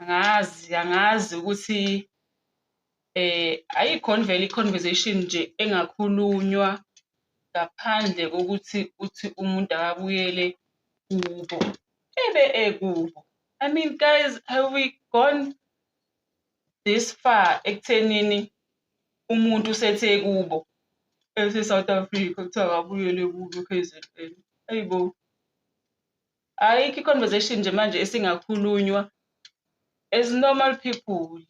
angazi angazi ukuthi eh ayikhona vele i-conversation nje engakhulunywa ngaphandle kokuthi uthi umuntu akabuyele kubo ebe ekubo i mean guys have we gone this far ekuthenini umuntu usethe kubo ese-south africa kuthiwa akabuyele kubo k-z-n ayibo ayikho i-conversation nje manje esingakhulunywa as normal people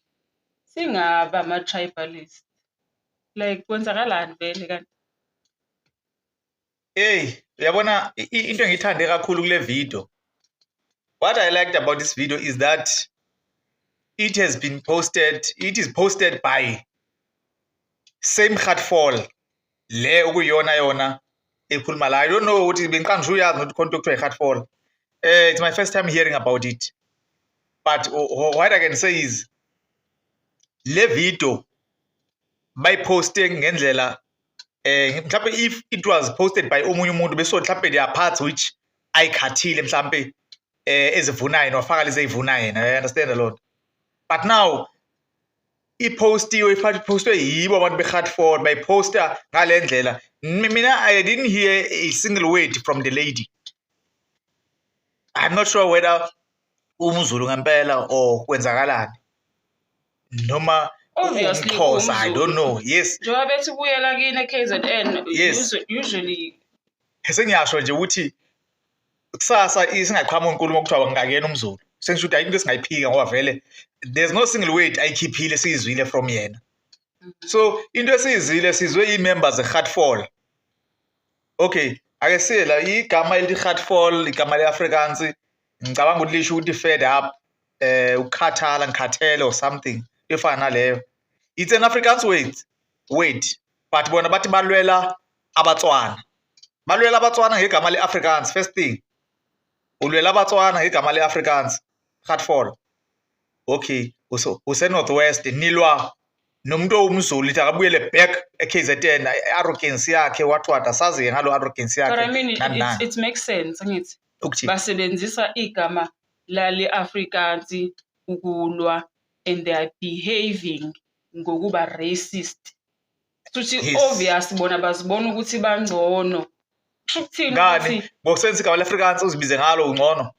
singaba ama-tribalist like kwenzakalani vele kanti eyi uyabona into engiyithande kakhulu kule video what i liked about this video is that it has been posted it is posted by same heartfall le okuyiyona yona ekhuluma la i don't know ukuthi bengiqanga ngisho uyazi ukuthi khona kuthiwa i-heart fall eh it's my first time hearing about it but what i can say is le video bayiposte ngendlela eh mhlawumbe if it was posted by omunye umuntu beso mhlawumbe there are parts which ayikhathile mhlawumbe eh ezivunayo nofaka lezi ezivunayo yena you understand a lot but now iphostiwe iphostwe yibo abantu beHartford bayiphosta ngale ndlela mina i didn't hear a single word from the lady i'm not sure whether umzulu ngempela or kwenzakalani noma obviously umxhosa i don't know yes njengoba bethi buyela kini e-kzn yes. usually sengiyasho nje ukuthi kusasa isingaqhamuki inkulumo kuthiwa ngingakena umzulu sengisho ukuthi ayinto esingayiphika ngoba vele there's no single word ayikhiphile siyizwile from yena so into esiyizile sizwe ii-members ze-heartfall okay ake siye la igama elithi heartfall igama le-afrikansi ngicabanga ukuthi lisho ukuthi fed up eh ukukhathala ngikhathele or something efana naleyo it's an afrikaans word word but bona bathi balwela abatswana balwela abatswana ngegama le-afrikaans first thing ulwela abatswana ngegama le-afrikaans hatfall okay usenorth west nilwa nomuntu owumzulu ithi akabuyele back e-kzn i-arrogance yakhe wathwada sazi-ke ngalo arrogance yakhe it makes sense ngithi basebenzisa igama lale afrikansi ukulwa and they are behaving ngokuba racist Suthi Yes. obvious bona bazibona ukuthi bangcono. Kusho ukuthini ngani ukuthi ngokusebenzisa igama le-afrikaans uzibize ngalo ungcono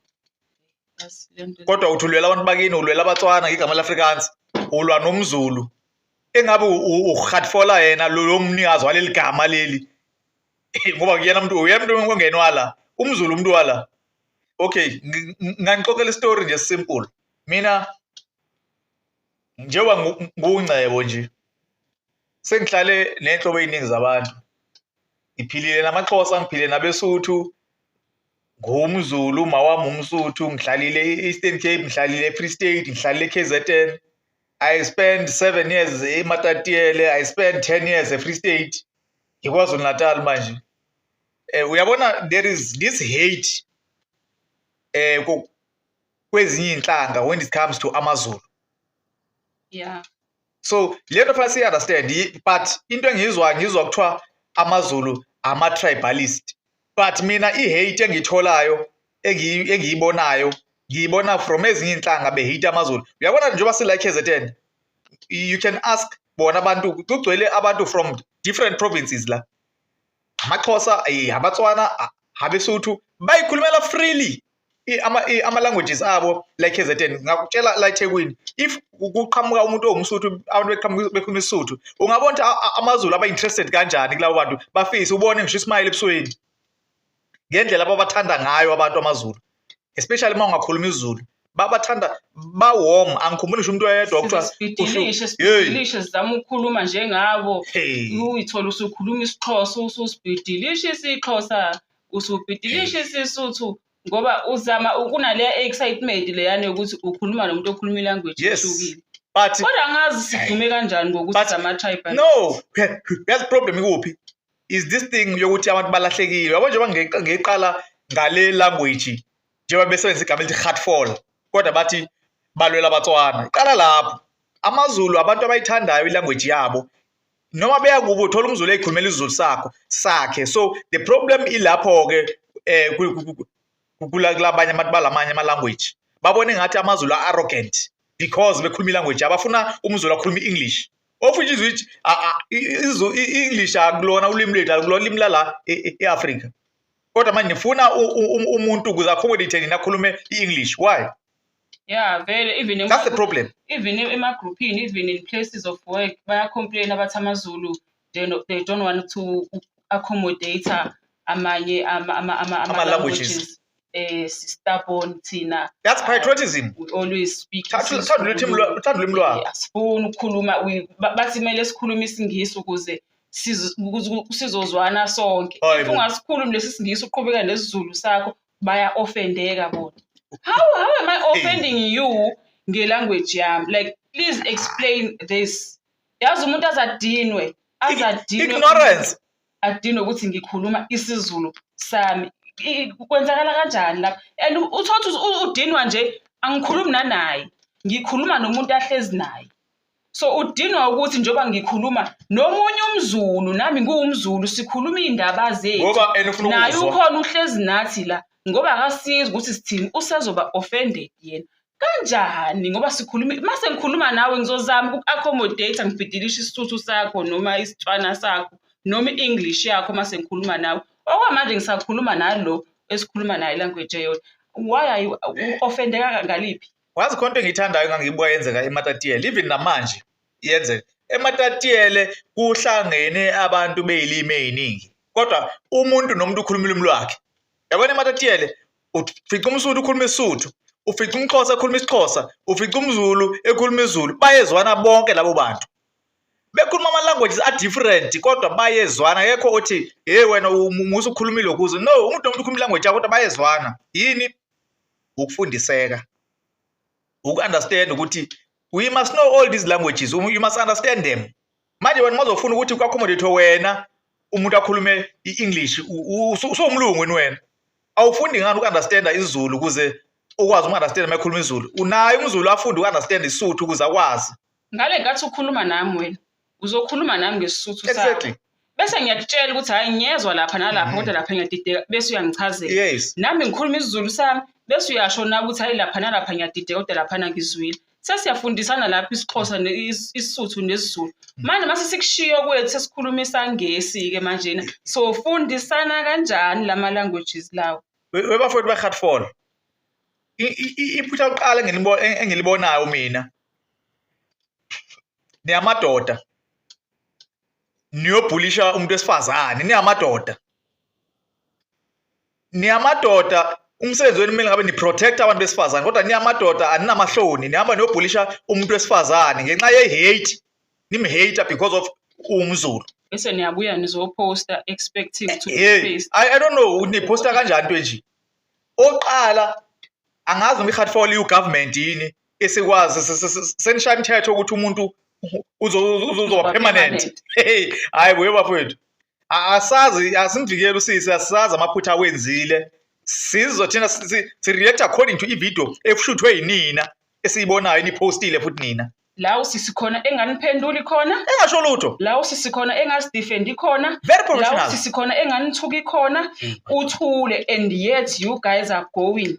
Yazi lento- kodwa uthi ulwela abantu bakini ulwela abatswana ngegama le-afrikaans ulwa nomzulu engabe u- u- urhatfola yena lo lo mnikazi waleli gama leli ngoba kuyena mntu uyena mntu ongene wala umzulu umntu wala okay ngi- ngi- nganixoxela isitori nje simple mina njengoba ngungcebo nje sengihlale nenhlobo eziningi zabantu ngiphilile namaXhosa ngiphile nabeSuthu ngumzulu mawami umsuthu ngihlalile e-eastern cape ngihlalile e-free state ngihlalile e-kzn i spend seven years ematatiele i spend ten years e-free state ngikwazulu natal manje um uyabona there is this hate um kwezinye izinhlanga when it comes to amazulu yeah so le nto fanele siyi-understand but into engiyizwayo ngizwa kuthiwa amazulu ama-tribalist but mina i-hate engiyitholayo engiyibonayo ngiyibona from ezinye iy'nhlanga behate amazulu uyabona njengoba sila i-kzn you can ask bona abantu kugcwele abantu from different provinces la amaxhosa abatswana abesuthu bayikhulumela freely ama-languages abo la KZN ngakutshela la eThekwini if kuqhamuka umuntu owumsuthu abantu beqhamuka bekhuluma isisuthu ungabona ukuthi amazulu aba-interested kanjani kulabo bantu bafise ubone ngisho ismayile ebusweni ngendlela ababathanda ngayo abantu amazulu especially uma ungakhuluma izulu babathanda bawom angikhumbuli ngisho umuntu oyedwa okuthiwailishe sibhidilishe sizama ukukhuluma njengabo uyithola usukhuluma isixhosa ususibhidilishe isixhosa usubhidilisha isiSuthu ngoba uzama ukunaleya excitement leyana yokuthi ukhuluma nomuntu okhuluma ilanguage Yes. ehlukile but kodwa angazi sidume kanjani ngokuthi But- sama-tribal no yazi problem ikuphi is this thing yokuthi abantu balahlekile yabo njengoba nge- ngeyiqala ngale language njengoba besebenzisa igama elithi hatfall kodwa bathi balwela abatswana iqala lapho amazulu abantu abayithandayo ilanguage yabo noma beya kubo uthola umzulu eyikhulumela izulu sakho sakhe so the problem ilapho ke eh kulabanye abantu balamanye ama language babone ngathi amazulu arrogant because bekhuluma ilanguage abafuna umzulu akhuluma i-english ofishe izwi i-english akulona ulimi lethu akulona ulimi lala e, e, e-afrika kodwa manje nifuna umuntu ukuze accommodate nina akhulume i-english why Yeah, vele even ema- That's the problem. even emagroupini even in places of work bayacomplain abathi amazulu they, no, they don't want to accommodate amanye ama, ama, ama, ama, Ama languages. eh stubborn thina That's patriotism. we always speak Tha- tha- Thanda ulimi lwa- thanda ulimi lwakho. asifuni ukukhuluma we- ba- bathi kumele sikhulume isingisi ukuze siz- ukuze sizozwana sonke Hayi if bo. ungasikhulumi lesi singisi uqhubeka nesizulu sakho baya offendeka bona how how am i offending you ngelanguage yami like please explain this yazi umuntu azadinwe azadinwe ignorance adinwe ukuthi ngikhuluma isizulu sami kwenzakala kanjani lapha and uthothi udinwa nje angikhulumi nanaye ngikhuluma nomuntu ahlezi naye so udinwa ukuthi njengoba ngikhuluma nomunye umzulu nami ngiwumzulu sikhuluma iy'ndaba zethu naye ukhona uhlezi nathi la ngoba akasizi ukuthi sithini usezoba offended yena kanjani ngoba sikhuluma uma sengikhuluma nawe ngizozama uku-accommodate ngibhidilishe isisuthu sakho noma isitswana sakho noma i-english yakho uma sengikhuluma nawe okwamanje ngisakhuluma nalo esikhuluma naye language eyodwa why are you offendeka ngaliphi wazi khona into engiyithandayo ngangiyibuka yenzeka ematatiele even namanje yenzeka ematatiele kuhlangene abantu beyilimi eziningi kodwa umuntu nomuntu ukhuluma ulimi lwakhe yabona ematatiele ufica umsuthu ukhuluma isuthu ufica umxhosa ekhuluma isixhosa ufica umzulu ekhuluma izulu bayezwana bonke labo bantu bekhuluma ama-languages a-different kodwa bayezwana kekho othi hey wena musa ukhulumile ukuze no umuntu nomuntu ukhuluma ilanguage yakho kodwa bayezwana yini ukufundiseka uku-understand ukuthi we must know all these languages you must understand them manje wena mazofuna ukuthi ku-accommodate wena umuntu akhulume i-english usowumlungu wini wena awufundi ngani uku-understanda izulu ukuze ukwazi uku-understanda uma ekhuluma izulu unaye umzulu afunde uku-understanda isuthu ukuze akwazi ngale ngathi ukhuluma nami wena uzokhuluma nami ngesisuthu sakho exactly bese ngiyakutshela ukuthi hhayi ngiyezwa lapha nalapha kodwa lapha ngiyadideka bese uyangichazela yes nami ngikhuluma isizulu sami bese uyasho na ukuthi hhayi lapha nalapha ngiyadideka kodwa laphana ngizwile sesiyafundisana lapho isixhosa ne- is- isisuthu nesizulu manje mase sikushiyo kwethu sesikhuluma isangesi-ke manjena sofundisana kanjani lama-languages lawo We- webafowethu behatfall iphutha lokuqala engilibo- en- engilibonayo mina niyamadoda niyobhulisha umuntu wesifazane niyamadoda niyamadoda umsebenzi wenu kumele ngabe ni-protect abantu besifazane kodwa niyamadoda aninamahloni nihamba niyobhulisha umuntu wesifazane ngenxa ye-hate nimhate because of umzulu bese niyabuya nizoposta expecting to hey, I, I don't know niposta kanjani into enje oqala angazi noma i-hard fall iwu-government yini isikwazi senishaya imithetho ukuthi umuntu uzoba permanent hey hayi buye bafowethu asazi asimvikeli usisi asazi amaphutha awenzile sizwe thina si-react according to ividiyo ekushuthwe yinina esiyibonayo eniphostile futhi nina la usisi khona enganiphenduli khona engasho lutho la usisi khona engasidefendi khona very professional la usisi khona enganithuki khona hmm. uthule and yet you guys are going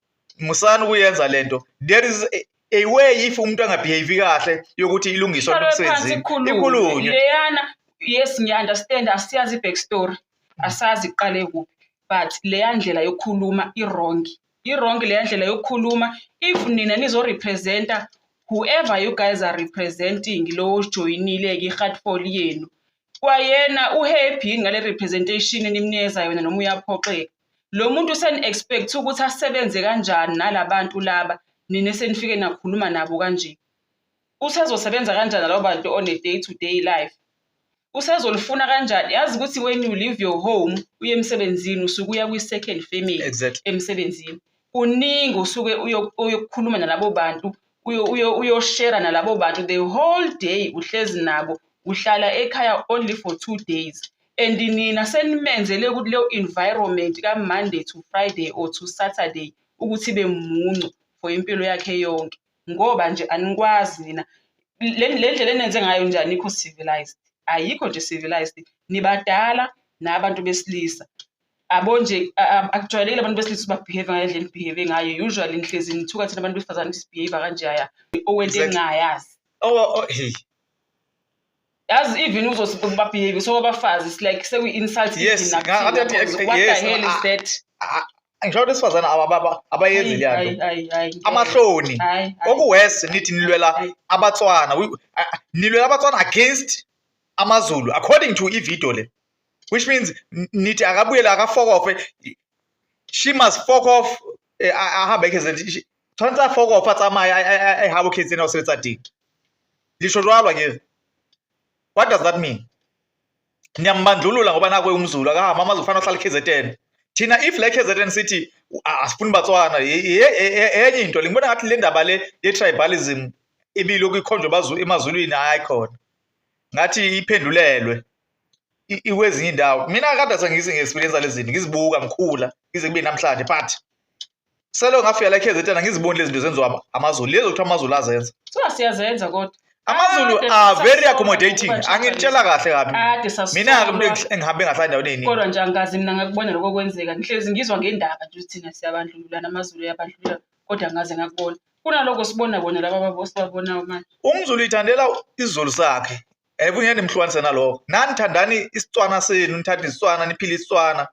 musani ukuyenza lento there is a, a way if umuntu angabehave kahle yokuthi ilungiswa Ihlale phansi emsebenzini ikhulunywe ikhulunywe leyana yes ngiya-understand asiyazi i-back story asazi iqale kuphi but leya ndlela yokukhuluma i-wrong i-wrong leya ndlela yokukhuluma if nina nizorepresenta whoever you guys are representing lowo ojoyinile-ke i-heartfall yenu Kwayena uhappy yini ngale representation enimnikeza yona noma uyaphoxeka? Lo muntu seni-expect ukuthi asebenze kanjani nala bantu laba nina senifike nakhuluma nabo kanje? Usezosebenza kanjani nalabo bantu on a day to day life? Usezolifuna kanjani? Yazi ukuthi when you leave your home uye emsebenzini usuke uya kwi-second family Exactly. emsebenzini. Kuningi usuke uyo- uyokukhuluma nalabo bantu uyoshera nalabo bantu the whole day uhlezi nabo uhlala ekhaya only for two days and nina senimenzele ukuthi leyo environment ka-monday to friday or to saturday ukuthi ibe muncu for impilo yakhe yonke ngoba nje anikwazi nina le ndlela enenze ngayo nje anikho civilized ayikho nje civilized nibadala nabantu besilisa abo nje akujwayelekile abantu besilisa ubabehave ngale ndlela engibehave ngayo usually ngihlezi ngithuka thina abantu besifazane sibehave kanje aya owento engingayazi yazi even uzobabehave so abafazi it's like seku-insult yes what the hell is that ngisho ukuthi esifazane abayenzi leya nto amahloni okuwesi nithi nilwela abatswana nilwela abatswana against amazulu according to ividiyo le which means nithi akabuyele akafokofe she must fok off eh, ahambe ekhezeni tshwanetse a fokofe a tsamaye a habo khetseni a o sebetsa teng lisho jwalo akere what does that mean niyambandlulula ngoba nakwe umzulu akahamba amazi kufanele ahlale KZN thina if le KZN sithi asifuni batswana enye into lengibona ngathi le ndaba le ye-tribalism ibilokhu ikhonjwa emazulwini hayi khona ngathi iphendulelwe ikwezinye indawo mina kade sengizi ngi-experience lezi zinto ngizibuka ngikhula ngize kube namhlanje but selo ngafika la KZN ngiziboni lezi zinto zenziwa amazulu lezi okuthiwa amazulu azenza so siyazenza kodwa amazulu are very accommodating angitshela kahle kabi mina engihambe ngahlala endaweni eningi kodwa nje angikazi mina ngakubona lokho kwenzeka ngihlezi ngizwa ngendaba nje ukuthi thina siyabandlululana amazulu yabandlulula kodwa ngaze ngakubona kunaloko sibona bona laba babosibabona manje umzulu ithandela isizulu sakhe Ayibungeni mhlukanise nalokho. Nani thandani isicwana senu, nithanda isicwana, niphile isicwana.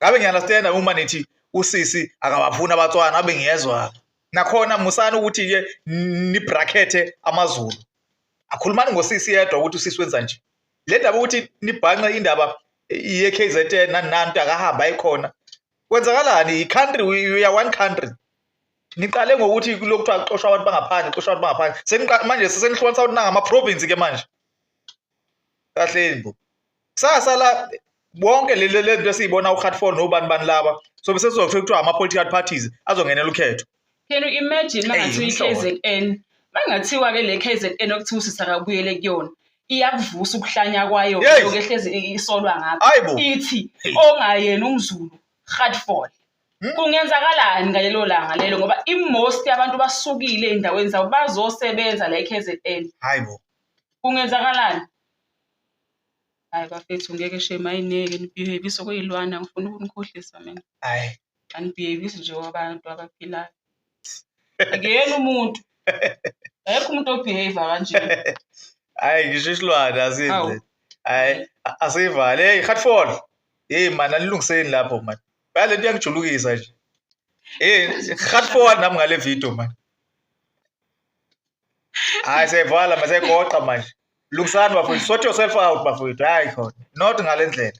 Ngabe ngiyalasitenda uma nithi usisi akabafuni abatswana abe ngiyezwa. Nakhona musani ukuthi ke ni bracket amaZulu. Akhulumani ngosisi yedwa ukuthi usisi wenza nje. Le ndaba ukuthi nibhanqe indaba ye KZN nani nantu akahamba ayikhona. Kwenzakalani? I country we are one country. niqale ngokuthi kulokhu kuthiwa kuxoshwa abantu bangaphandle kuxoshwa abantu bangaphandle seniqale manje sesenihlukanisa ukuthi nangama province ke manje kahleni bo kusasa la bonke le le nto esiyibona uHatford nobani bani laba so bese sizokuthe kuthiwa ama political parties azongenela ukhetho can you imagine mangathi iKZN mangathiwa ke le KZN okuthi usisa kabuyele kuyona iyakuvusa ukuhlanya kwayo lokho ehlezi isolwa ngapha ithi ongayena umzulu Hatford Hmm? kungenzakalani ngalelo langa lelo ngoba imost abantu basukile ey'ndaweni zabo bazosebenza la e-k z n hayi bo kungenzakalani hayi bafethu ngeke shame ayineke nibehevise okuyilwana ngifuna ukunikhohlisa mina hayi anibehevisi nje kwabantu abaphilayo akuyena umuntu ayekho umuntu obehave kanje hayi ngisho isilwane asidle hayi asivale hey hatfall hey mani alilungiseni lapho mani Phela lento iyangijulukisa nje. Eh, hard forward nami ngale video man. Hayi sevala mase goqa manje. Lungisani bafowethu, sort yourself out bafowethu. Hayi khona. Not ngalendlela.